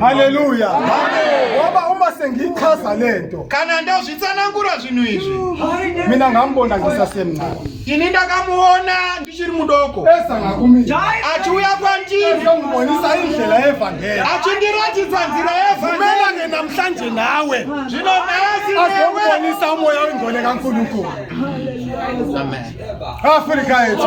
haleluya waba uma sengiyichaza le nto kana ndazvitsanangura zvinhu izvi mina ngambona ngisasemncane ini ndakamuona ndichiri mudoko achiuya kwandiri achindiratidza nzira yevanelane namhlanje nawe zvino nhasiazomubonisa umoya wengone kankulunkulu afrika yetu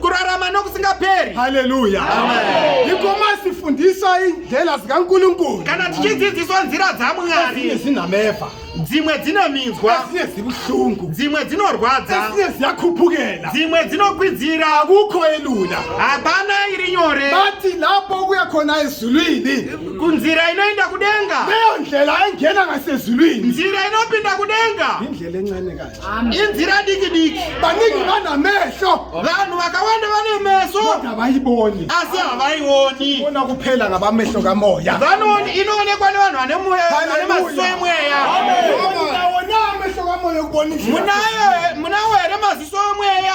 kurarama nokusingaperi haleluya iko masifundiswa indlela zikankulunkulu kana tichidzidziswa nzira dzamwari zinameva dzimwe dzinominzwa asiye zibuhlungu dzimwe dzinorwadza asiye ziyakhupukela dzimwe dzinokwidzira akukho elula hapana iri nyore bathi lapho kuya khona ezulwini kunzira inoenda kudenga leyo ndlela engena ngasezulwini nzira inopinda kudenga indlela encane kahle inzira diki diki vanenge vana meso vanhu vakawanda vane meso havaiboni asi havaioni ona kuphela ngavameso kamoya vanoni inoonekwa nevanhu vane moya vane maziso emweya munayo munawo here maziso emweya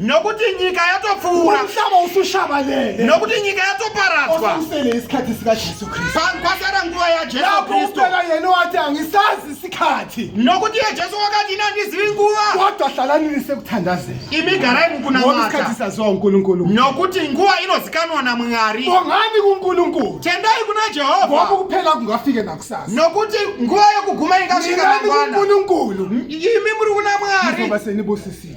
nokuti nyika yatopfuura ushava usushava lele nokuti nyika yatoparadzwa osusele isikhathi sika Jesu Kristu Pa- kwasara nguva yajesu lapho kristu uphela yena wathi angisazi isikhathi nokuti iye jesu wakati ine andizivi nguva kodwa hlalani nisekuthandazeni imi garai ngoba isikhathi mukunamata saziwa uNkulunkulu nokuti nguva inozikanwa namwari bongani kuNkulunkulu tendai kuna ngoba jehovha ukuphela kungafike nakusasa nokuti nguva yokuguma ingasvika ningani mangwana kuNkulunkulu imi muri kuna mwari nizoba senibusisiwe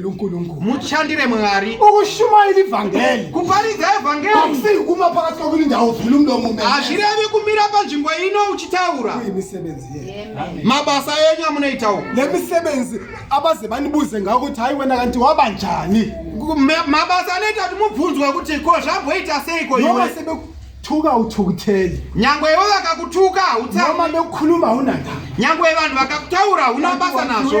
lunkulunkulu mutshandire mwari ukushumaira ivhangeri kuparidza ivhangeri akusiyi kuma pakati kwekuti ndauvhula umlomo me hazvirevi kumira panzvimbo ino uchitaura uye misebenzi ye mabasa enyu amunoita uku le misebenzi abaze vandibuze ngako kuti hayi wena kanti waba njani mabasa anoita kuti mubvunzwe kuti ko zvamboita seiko iwe thuka uthukutheli nyangwe iwe vakakutuka utsanoma bekukhuluma unanda nyangwe vanhu vakakutaura unabasa nazvo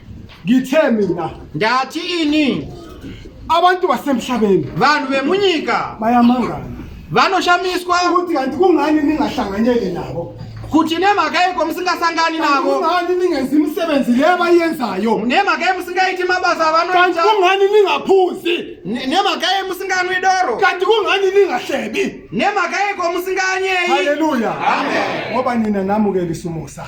ngitheni na ndati ini abantu basemhlabeni vanhu vemunyika bayamangana vanoshamiswa kuti kanti kungani ningahlanganyeli nabo kuti nemhaka yeko musingasangani navo kungani ningenzi imisebenzi leyo abayenzayo nemhaka ye musingaiti mabasa avanoita kungani ningaphuzi nemhaka ye musinganwi doro kanti kungani ningahlebi nemhaka yeko musinganyeyi haleluya ngoba nina namukelisa umusa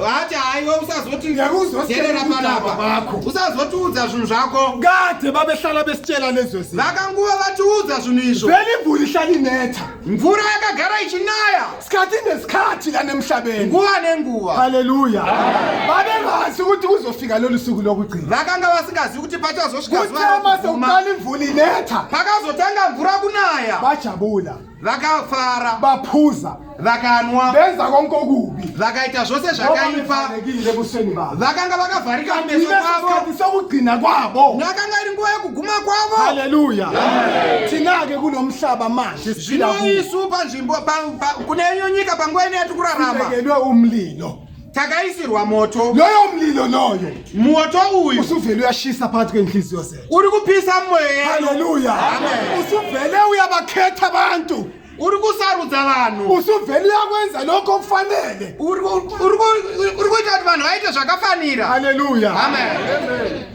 vati haiwe usazotijerera panapa usazotiudza zvinhu zvako ngate vavehlala vesichela nezvese vakanguva vatiudza zvinhu izvo veni mvura ihlalineta mvura yakagara ichinaya sikati nesikati lanemhlabeni nguva nenguva haleluya vavevazi kuti kuzofika lolu suku lokugcina vakanga vasingazivi kuti pachazosvika zuva lokuguma pakazotanga mvura kunaya vajabula vakafara vapuza vakanwa benza konke okubi vakaita zvose zvakaipa ebusweni bavo vakanga vakavharika meso kwavo sokugcina kwabo nakanga iri nguva yekuguma kwavo haleluya tinake kuno mhlaba manje zvino isu panzvimbo kune nyika panguva ine yatikurarama umlilo takaisirwa moto loyo mlilo loyo moto uyu usuvele uyashisa phakathi kwenhliziyo zethu uri kupisa moyo haleluya usuvele uyabakhetha abantu uri kusarudza vanhu usuvele uyakwenza lokho okufanele uri kuita kuti vanhu vaite zvakafanira haleluya amen, amen.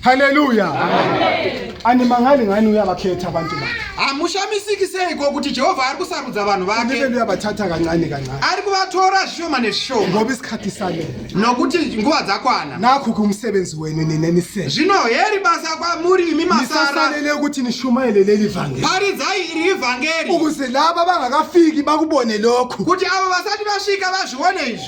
haleluya animangali ngani uya vakhetha abantu bakhe hamushamisiki seiko kuti jehovha ari kusarudza vanhu vake ndiveni uyabathatha kancane kancane ari kuvatora zvishoma nezvishoma ngoba isikhathi sanele nokuti nguva dzakwana nakho ke umsebenzi wenu nina nisele zvino heri basa kwamuri imi masara nisasalele ukuthi nishumayele leli vangeli paridzai iri ivhangeri ukuze laba abangakafiki bakubone lokhu kuti avo vasati vasvika vazvione izvi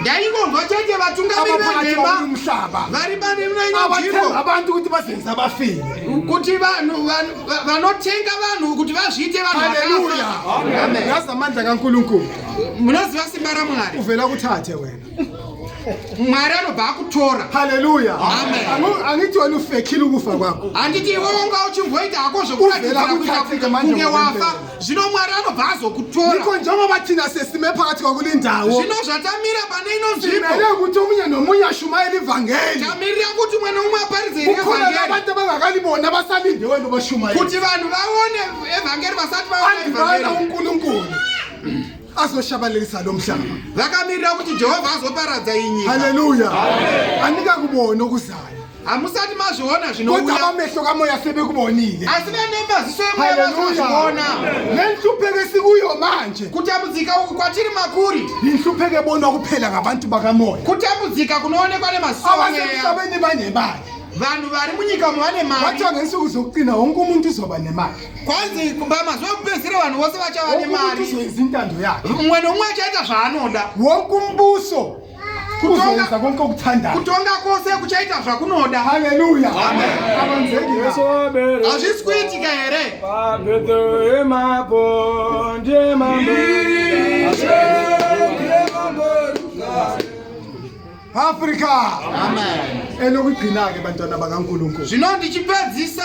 ndaingonzwa chete vatungamiri venhema vari pane mna inonzvimbo abantu kuti vazenza vafire kuti vanhu vanotenga vanhu kuti vazviite vanhuyasamandla kankulunkulu munoziva simba ramwari uvela kuthathe wena mwari anobva akutora haleluya angiti wena ufekile ukufa kwako handiti iwe wanga uchimboita hako zvekuakunge wafa zvino mwari anobva azokutora iko njengo vatina sesime pakati kwakulindawo zvino zvatamira pane ino nzvimbo ere kuti omunye nomunye ashumairi vhangeri tamirira kuti umwe noumwe aparidze iri vhangeri vabata vangakalibona vasalinde wendo vashumairi kuti vanhu vaone evhangeri vasati vaona evhangeri andivana unkulunkulu azoshabalalisa lo mhlaba vakamirira kuti jehovha azoparadza inyika haleluya andikakubona okuzayo hamusati mazviona zvinouyaamehlo kamweya sebekubonile asi vane maziso emweya vazozviona nenhlupheko esikuyo manje kutambudzika uku kwatiri makuri inhlupheko ebonwa kuphela ngabantu bakamoya kutambudzika kunoonekwa nemaziso abasemhlabeni banemali vanhu vari munyika umo vane mari wacho ngensuku zokuqina wonke umuntu uzoba nemali kwanzi kumba mazuva ekupedzisira vanhu vose vachava nemari uzoiza intando yake umwe neumwe achaita zvaanoda wonke umbuso kuzoisa konke ukuthanda kutonga kose kuchaita zvakunoda haleluya hazvisi kuitika here afrika elokugcina-ke bantwana bakankulunkulu zvino ndichipedzisa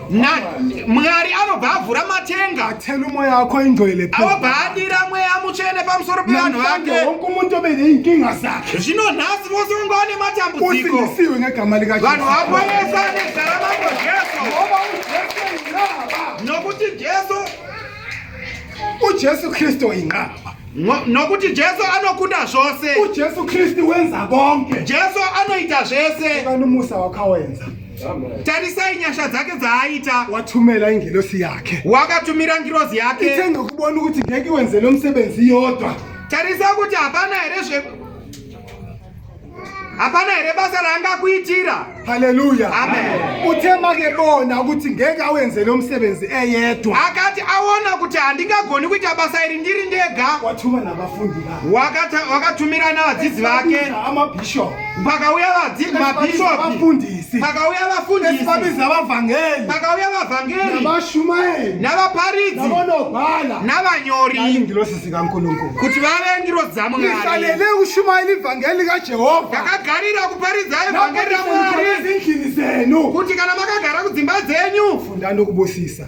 mwari anobva avhura matenga atene mweya ako indoile avobva adira mweya mutsvene pamusoro pevanhu vake wonke umuntu obe neinkinga zakhe zvino nhasi vose vonge vane matambudziko usindisiwe ngegama likavanhu vaponesa nezita ramambo jesu ngoba ujesu inqaba nokuti jesu ujesu kristu inqaba nokuti jesu anokunda zvose ujesu kristu wenza konke jesu anoita zvese kana umusa wakawenza tarisai nyasha dzake dzaaita watumela ingilosi yake wakatumira ngirozi yake itenge kubona ukuthi ngeke wenze lo msebenzi yodwa tarisa kuti hapana here zve hapana here basa raangakuitira haleluya amen uthe make bona ukuthi ngeke awenze lo msebenzi eyedwa akati awona kuti handingagoni kuita basa iri ndiri ndega wathuma nabafundi wakatumira navadzidzi vake pakauya mabhishopifundisi pakauya vafundisipabiza vavhangeri pakauya vavhangeri navashumaeri navaparidzi navonogwala navanyori ngirosi zikankulunkulu kuti vave ngirosi dzamwariisalele ushumairi ivhangeri likajehovha ndakagarira kuparidza ivhangeri ramwari kuti kana makagara kudzimba dzenyu funda ndokubusisa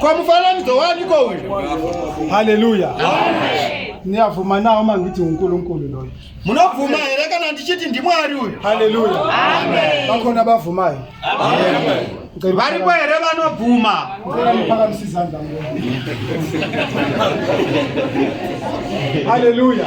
Kwa mufananidzo wani ko uyu? Haleluya. Amen. Niyavuma nawo mangiti uNkulunkulu loyo. Munobvuma here kana ndichiti ndiMwari uyu? Haleluya. Amen. Bakhona bavumayo. Amen. varipo here vanobvuma haleluya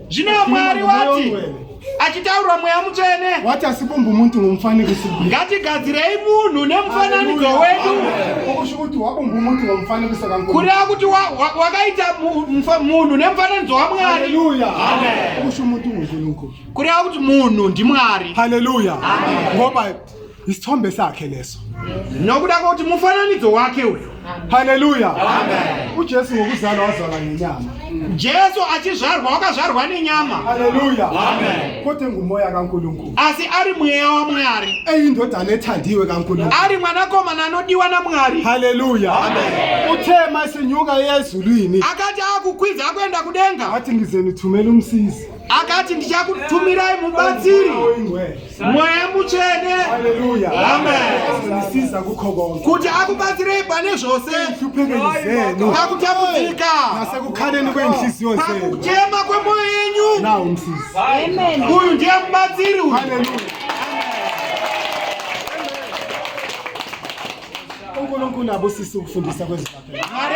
Zvino Mwari wati achitaurwa mweya mutsvene wati asipo mbumuntu ngomufananidzo ngatigadzirei munhu nemufananidzo wedu kuti wabo mbumuntu ngomufananidzo kankulu kureva kuti wakaita munhu nemufananidzo wamwari kusho muti unkulunkulu kureva kuti munhu ndimwari haleluya ngoba isithombe sakhe leso nokuda kokuti mufananidzo wake uyu haleluya ujesu ngokuzalwa wazalwa nenyama jesu achizvarwa wakazvarwa nenyama haleluya kote ngumoya kankulunkulu asi ari mweya wamwari eyindodana ethandiwe kankulunkulu ari mwanakomana anodiwa namwari haleluya uthema isinyuka yezulwini akati akukwidza akuenda kudenga athi ngize nithumela umsizi akati ndichakutumirai mubatsiri oyingcwele mweya mutsvene kuti akubatsirei pane zvose pakutambudzika pakuchema kwemwoyo yenyu uyu ndiye mubatsiri uyu unkulunkulu abusisi ukufundisa kwezimari